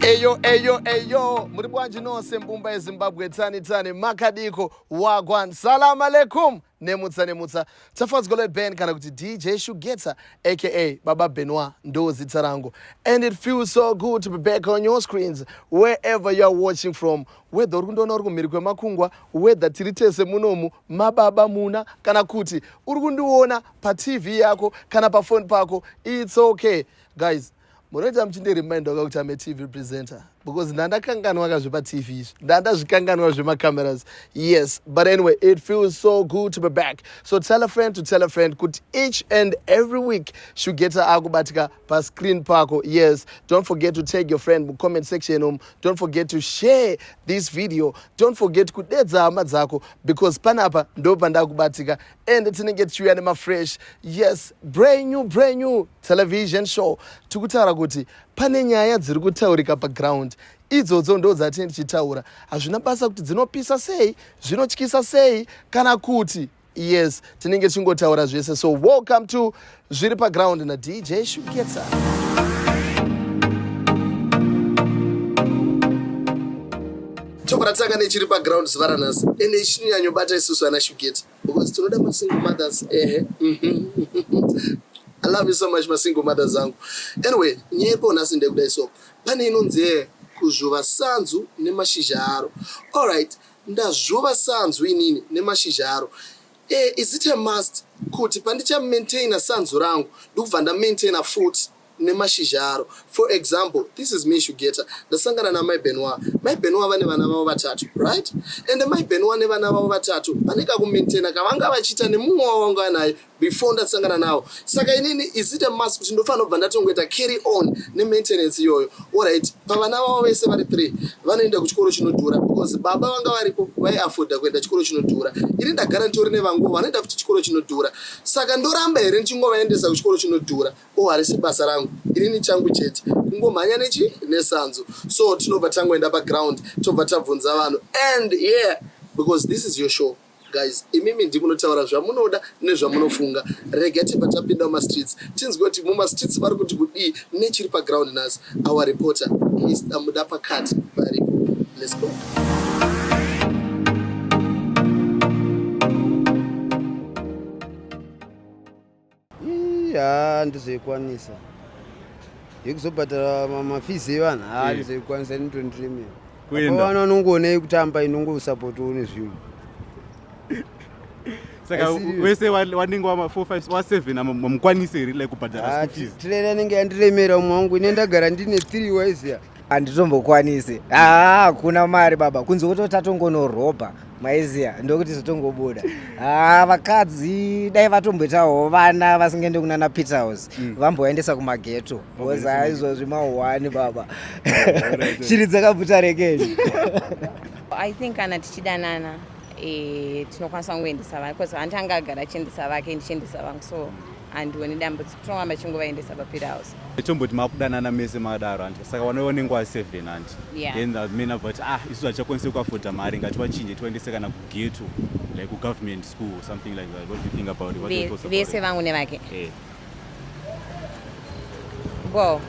eyo eyo eyo muri bwanji nose mbumba yezimbabwe tsani tsani makadiko wagwan salamu aleikum nemutsa nemutsa tafadzwa leben kana kuti dj shugeta aka baba benoir ndo zita rangu and it feels so good to be back on your screens wherever youare watching from whether uri kundiona uri kumhiri kwemakungwa whether tiri tese munomu mababa muna kana kuti uri kundiona patv yako kana pafoni pako its okay guys munoita muchindireminder ka kuti ame tv presenter because ndandakanganwa ka zvepatv izvi ndandazvikanganwa zvemacameras yes but anyway it feels so good to be back so tell a friend to tell a friend kuti each and every week shugeta akubatika pascreen pako yes don't forget to tag your friend mucomment section um don't forget to share this video don't forget kudedza hama dzako because panapa ndo pandakubatika and tinenge tichiuya nemafresh yes brand new brand new television show tiri kutaura kuti pane nyaya dziri kutaurika paground idzodzo ndo dzatine tichitaura hazvina basa kuti dzinopisa sei zvinotyisa sei kana kuti yes tinenge tichingotaura zvese so welcome to zviri paground nadj shuketsa chokuratanga nechiri paground zuva ranhasi ende ichinyanyobata isusu ana shuketa because tinoda masingle mothers ehe i love you so much masingle mothers angu anyway nyaya iripo nhasi ndekudai so pane inonzi kuzvuva sanzu nemashizha aro allright Ndazvuva sanzu inini nemashizha aro. Eh is it a must kuti pandicha maintainer sanzu rangu ndokubva nda maintainer futi nemashizha aro. For example this is me Shugeta ndasangana namai Benoir. Mai Benoir vane vana vavo vatatu right? Ende mai Benoir nevana vavo vatatu vane kaku maintainer kavanga vachiita nemumwe wavanga vanaye. before ndasangana nawo saka inini is it a must kuti ndofanira kubva ndatongoita carry on nemaintenance iyoyo orit pavana vavo vese vari three vanoenda kuchikoro chinodhura because baba vanga varipo vaiafoda kuenda chikoro chinodhura ini ndagara nditori nevanguo vanoenda futi chikoro chinodhura saka ndoramba here ndichingovaendesa kuchikoro chinodhura o oh, harisi basa rangu inini changu chete kungomhanya nechi nesanzo so tinobva tangoenda paground tobva tabvunza vanhu and yeah because this is your show Guys imimi ndimunotaura zvamunoda nezvamunofunga rega tibva tapinda mumastreets tinzwe kuti mumastreets vari kuti kudii nechiri paground nhasi our reporter Mr muda pakati varipo let's go haa ndizoikwanisa yekuzobhadhara mafees evanhu haa Eh. ndizoikwanisa ini tondremera Kuenda. vana vanongoonei kutamba inongosapotiwo nezvinhu saka Asi- wese wa- wanenge wama 4 5 wa 7 ama- mamukwanise here like kubhadhara Ah, school fees trailer inenge yandiremera umwe wangu ine ndagara ndine three waiziya handitombokwanisi haa hakuna mari baba kunze kuti tatongonorobha maiziya ndokuti zotongobuda haa vakadzi dai vatomboitawo vana vasingaende kunana peter house mm. vamboendesa kumageto bcause haa izvozvi mahwani baba shiri dzakabvuta rekei i think kana tichidanana eh, tinokwanisa kungoendesa vana bcause vanti anga agara achiendesa vake ndichiendesa vangu so and one dambudziko tinongamba chingovaendesa papira house tomboti makudanana mese madaro anti saka vanova nenguva 7 anti then men ava vati ah isu hatichakwanisi kuafoda mari ngativachinje tivaendese kana kugeto like kugovernment school or something like that what do you think about it vese vangu nevake eh. well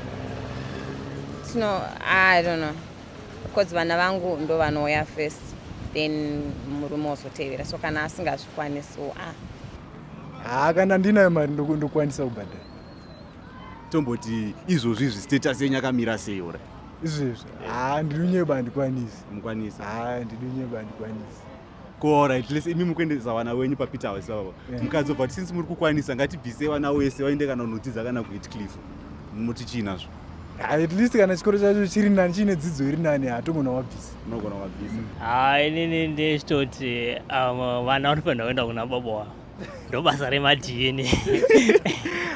tino i don't know because vana vangu ndo vanouya first then murume wozotevera so kana asingazvikwanisi ah haa kana ndinayo mari ndokwanisa kubhadhara tomboti izvozvi izvi status yenyu akamira sei ora izvezvi haa ndinunyeba handikwanisi mukwanisi haa ndinunyeba handikwanisi kuora at least imi mukuendesa vana wenyu papeter house vavo mukadzobva kuti since muri kukwanisa ngatibvise vana wese vaende kana unodzidza kana kuhitcliff muti chii nazvo at least kana chikoro chacho chiri nani chiine dzidzo iri nani hatogona wabvisa unogona wabvisa ha inini ndechitoti um, vana vanofanira kuenda kuna baba wavo ndobasa remadna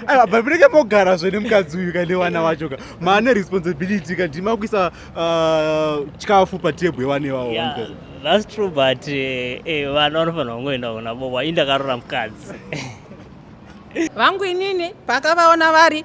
aiwa but munenge mogara zve nemukadzi uyu ka newana wacho ka maane responsibility ka ndima kuisa uh, chikafu patebhu yewana iwawo yeah, that's true but eh, eh, vana vanofanira kungoenda kuna baba indakarora mukadzi vangu inini pakavaona vari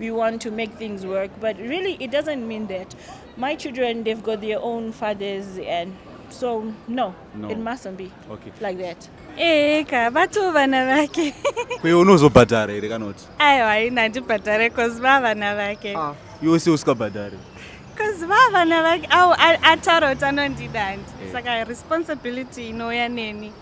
we want to make things work but really it doesn't mean that my children they've got their own fathers and so no, no. it mustn't be okay. like that ee eh, ka bato vana vake kwe unozobhadhara here kana kuti aiwa haina handibhadhare cause va vana vake ah. iwe se usikabhadhare cause va vana vake au ataura kuti anondida handi eh. saka responsibility inouya neni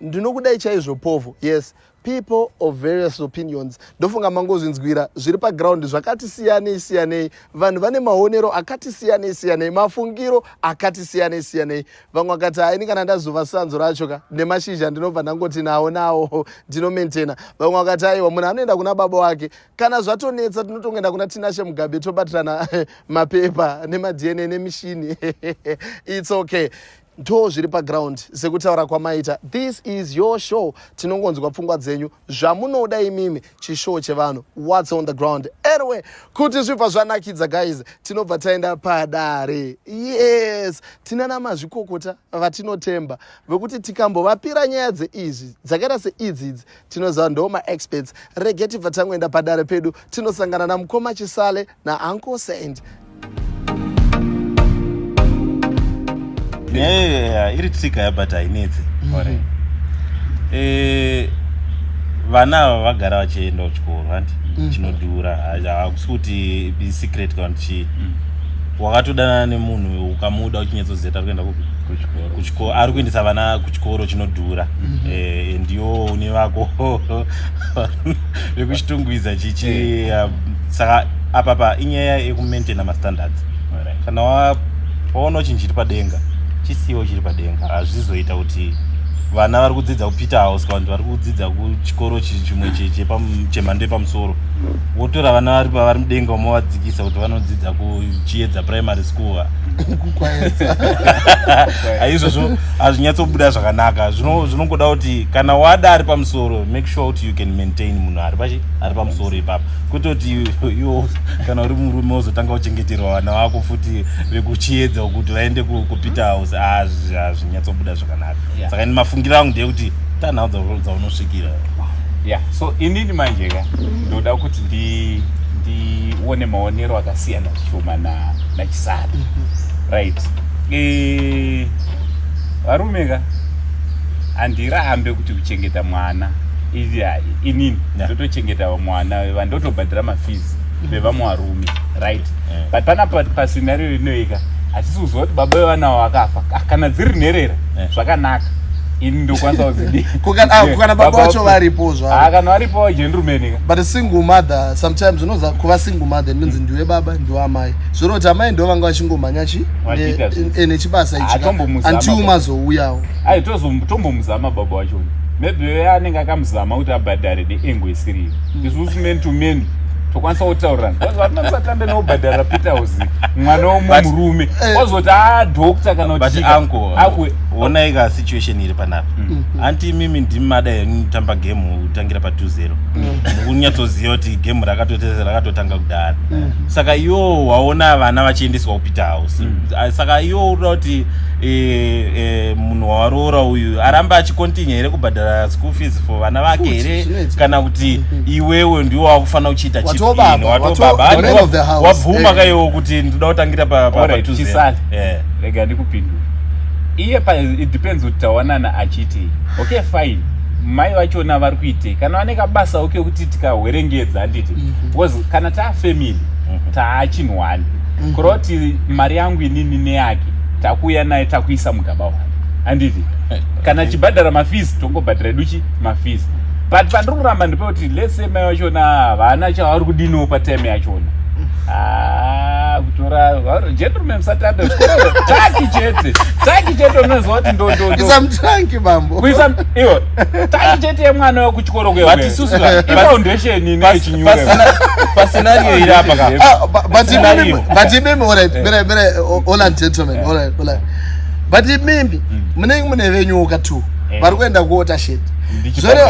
ndinokudai chaizvo povo yes people of various opinions ndofunga mangozvinzwira zviri paground zvakati siyanei siyanei vanhu vane maonero akati siyanei siyanei mafungiro akati siyanei siyanei vamwe vakati haini kana ndazova sanzo racho ka nemashizha ndinobva ndangoti nawo nawo ndinomaintaina vamwe vakati aiwa munhu anoenda kuna baba wake kana zvatonetsa tinotongoenda kuna tinashe mugabe tobatirana mapepa nemadna nemishini its okay ndo zviri paground sekutaura kwamaita this is your show tinongonzwa pfungwa dzenyu zvamunoda imimi chishow chevanhu whats on the ground anyway kuti zvibva zvanakidza guys tinobva taenda padare yes tinana mazvikokota vatinotemba vekuti tikambovapira nyaya dzeizvi dzakaita seidzi idzi tinoziva ndo maexperts rege tibva tangoenda padare pedu tinosangana namukoma chisale nauncle saint yeah, iri tsika yabata hainetsi mm-hmm. eh, vana ava vagara vachienda kuchikoro hanti mm-hmm. chinodhura hakusi kuti secret kana kuti chii mm. wakatodanana nemunhu ukamuda uchinyatsoziva tari kuenda kuchikoro ari kuendesa vana chikoro chinodhura mhm. eh, ndiwo une vako vekuchitungwiza chichi eh. saka apa pa inyaya yekumaintaina mastandards kana waona chinhu chiri padenga chisiwo chiri padenga hazvizoita kuti vana vari kudzidza kupeter house kavanti vari kudzidza kuchikoro chimwe chemhando yepamusoro mm. wotora vana vari pavari mudenga umovadzikisa kuti vanodzidza kuchiedza primary school izvozvo hazvinyatsobuda zvakanaka zvinongoda kuti kana wada ari pamusoro make sure kuti you can maintain munhu ari pachi ari pamusoro ipapa kwete kuti iwo kana uri murume wozotanga uchengeterwa vana vako futi vekuchiedza kuti vaende kupeter house hazvinyatsobuda zvakanaka saka ini mafungiro angu ndeyekuti tanhau dzaunosvikira ya so inini manjeka ndoda kuti ndione maonero akasiyana chishoma na na chisara mm-hmm. right eh varume ka handirambe kuti kuchengeta mwana izi hai inini ndotochengeta mwana veva ndotobhadhira mafees mm-hmm. vevamwe varume right but pana pasinario rinoika hatisi kuziva kuti baba vevana avo vakafa kana dziri nherera zvakanaka ini ndokwanisa kuzidii ah, kana baba vacho varipo zvavo ah, kana varipo gentleman but a single mother sometimes unoza kuva single mother ndinzi mm. ndiwe baba ndiwe amai zvoreva kuti amai ndo vanga vachingomhanya chi eh, nechibasa ichianti umazouyawo ai tombomuzama baba wacho maybe anenge akamuzama kuti abhadhare neengo isiriyo mm. isusu men to men tokwanisa kutaurirana vanosatanda neobhadhara peter house mwana womwe murume eh. wazoti adokta ah, kana kutiakuonai ka situation iri panapa mm. anti imimi ndimada yanitamba game tangira pa 20 mm. kunyatsoziva kuti game rakatoteza rakatotanga kudhara mm. saka iwo waona vana vachiendeswa kupeter house mm. Ah, saka iwo uda kuti e, e, munhu waroora uyu aramba achikontinye here kubhadhara school fees for vana vake here kana kuti iwewe ndiwo wakufanira kuchiita chiwatobabawabvuma ka iwo kuti ndida kutangira patuzeega eh. ndikupindura iye it depends kuti tawanana achiti okay fine mai vachona vari kuitei kana vane kabasawo kekuti tikahwerengedza handiti mhm. because kana taafamily mhm. taachinhwani mhm. kureva kuti mari yangu inini neyake takuuya naye takuisa mugaba wake handiti eh, kana chibhadhara mafees tongobhadhara edu chi mafees but pandiri kuramba ndipe kuti let's say mai vachona havana chavari kudiniwo patime yachona ah, kutora gentleman satanda taki chete taki chete unoziva kuti ndondondoo bambo kuisa iwo tai chete yemwana we kuchikoro kuya but isusu foundation ine chinyuka pa scenario iri apa ka ah, but imimi but imimi all right bere bere all and gentlemen all right all right but imimi mm. mune mune venyu uka tu eh. vari kuenda kuota shit zvore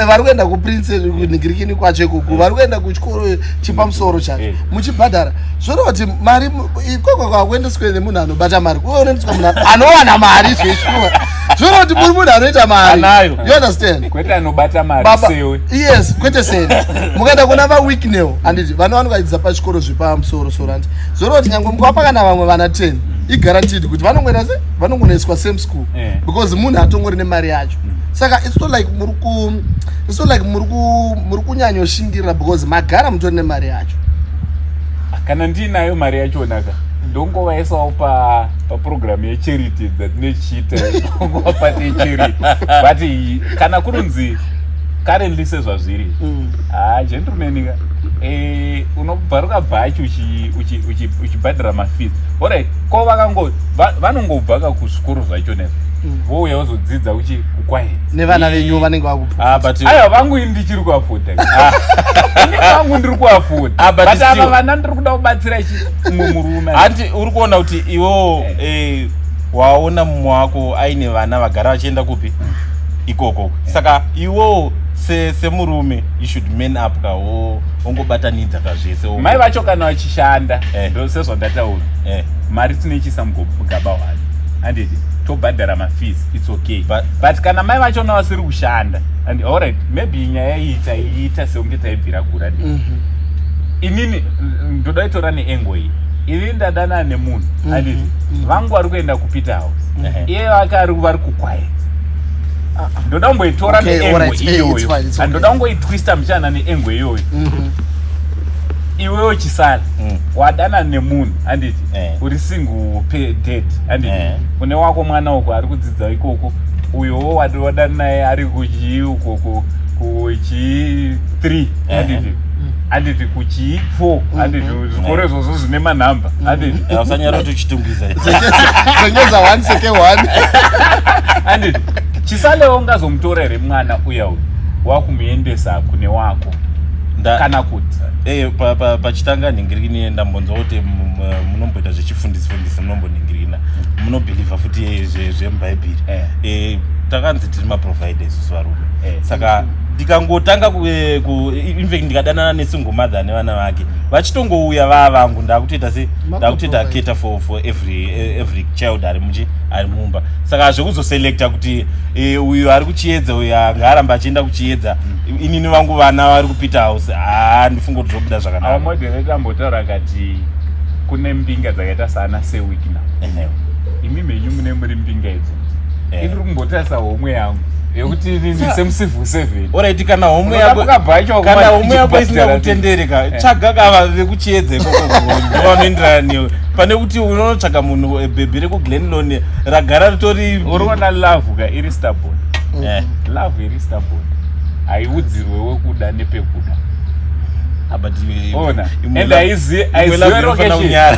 vari kuenda kuprince nigirikini kwacho ikuku vari kuenda kuchikoro chepamusoro mm. chacho eh. muchibhadhara zvore kuti mari ikoko kwakuendeswa nemunhu anobata mari kuonendiswa munhu anowana mari zveshuwa zviona kuti muri munhu anoita mari you understand kwete anobata mari baba sewe yes kwete sewe mukaenda kuna va weeknel anditi vana vanokaidza pachikoro zvepamusoro soro anti zviona kuti nyangwe mukapa kana vamwe vana 10 iguaranteed kuti vanongoenda se vanongonoiswa same school eh. because munhu atongori nemari yacho mm. saka it's not like muri ku it's not like muri ku muri kunyanyoshingirira because magara mutori nemari yacho kana ndinayo mari yachonaka ndongovaesawo pa paprogramu yecharity dzatinochiita nguva pati yecharity but kana kurunzi currently sezvazviri mm. haa ah, gentlemanka eh, unobva rukabva achi uchibhadhira mafees orit ko vakango vanongobva ka kuzvikoro zvacho nezvo mm. vouya vozodzidza uchi kukwainevana venyu vanenge vakuaiwa ah, vangu ini ndichiri kuafoda ah. ini vangu ndiri kuafoda but ava vana ndiri kuda kubatsira chi umwe murume hanti uri kuona kuti iwewo eh. eh, waona mumwe wako aine vana vagara vachienda kupi ikoko eh. saka iwewo semurume se you should man up ka ongobatanidza ka zvese mai vacho kana vachishanda eh. ndo sezvandataura eh. mari tinoichisa mugaba hwani handiti tobhadhara mafees its okay but, but kana mai vacho na vasiri kushanda and allright maybe nyaya iyi taiita seunge taibvira kura mm -hmm. inini ndoda itora neengo iyi ini ndadanana nemunhu mm-hmm. aniti mm-hmm. vangu vari kuenda kupita house mm-hmm. iye vake ari vari kukwaedza ndoda kungoitora neengo iyoyo andoda kungoitwista muchana neengo iyoyo iwewo chisala mm. wadanana nemunhu anditi eh. uri single pay dead anditi eh. une wako mwana uko ari kudzidza ikoko uyowo wadana naye ari kuchii ukoko kuchii three handiti handiti kuchii fo handiti zvikoro izvozvo zvine manhamba handiti usanyara kuti uchitungwiza senyeza one seke one handiti chisalewo ungazomutora here mwana uya uyu wakumuendesa kune wako kana kuti eh, pachitanga nhingirini ndambonzwa kuti munomboita zvechifundisi fundisi munombonhingirina munobhilivha futi zvemubhaibhiri eh. eh, takanzi tiri maprovider isusu varume saka ndikangotanga eh, infact ndikadanana nesingle mother nevana vake vachitongouya vaa vangu ndakutoita se ndakutoita cater for, for every, eh, every child ari muchi ari mumba saka zvekuzoselecta kuti e, uyu ari kuchiedza uyu anga aramba achienda kuchiedza mm. inini vangu vana vari kupita house haa ndifunga kuti zvobuda zvakanaka moderator ambotaura akati kune mbinga dzakaita saana sewikna imi mhenyu mune muri mbinga idzi yeah. iri kumbotarisa homwe yangu yekuti nini semucivil servant alright kana homwe yako kana homwe yako isina kutendere ka eh. tsvaga kava vekuchiedza ikoko vanoenderana newe pane kuti unonotsvaga munhu eh, bhebhi rekuglenlone ragara ritori uriona love ka iri starbon mm. eh, love iri starbon haiudzirwe wekuda nepekuda ah, but ona and aizive aizive rokeshe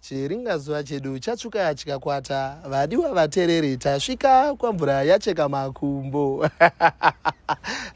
Chiringazuva chedu chatsvuka chikakwata, vadiwa vatereri tasvika kwamvura yacheka makumbo.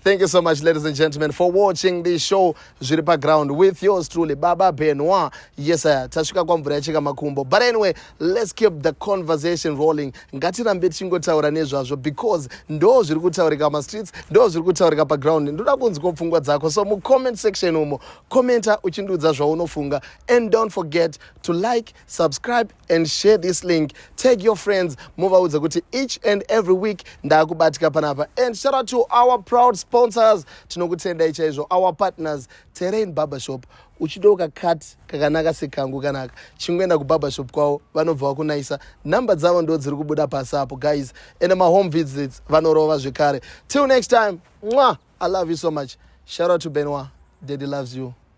Thank you so much ladies and gentlemen for watching this show zviri paground with yours truly Baba Benoit. Yes sir, tasvika kwamvura yacheka makumbo. But anyway, let's keep the conversation rolling. Ngatirambe tichingotaura nezvazvo because ndo zviri kutaurika mastreets, ndo zviri kutaurika paground. Ndoda kunzwa pfungwa dzako. So mucomment section umo, commenta uchindiudza zvaunofunga and don't forget to like subscribe and share this link take your friends muvaudze kuti each and every week ndaakubatika panapa and shout out to our proud sponsors tinokutendai chaizvo our partners terrain barbershop uchida ukakat kakanaka sekangu kanaka chingoenda kubarbershop kwavo vanobva vakunayisa number dzavo ndo dziri kubuda pasi apo guys and mahome visits vanorova zvekare till next time mwa i love you so much shout out to benoir daddy loves you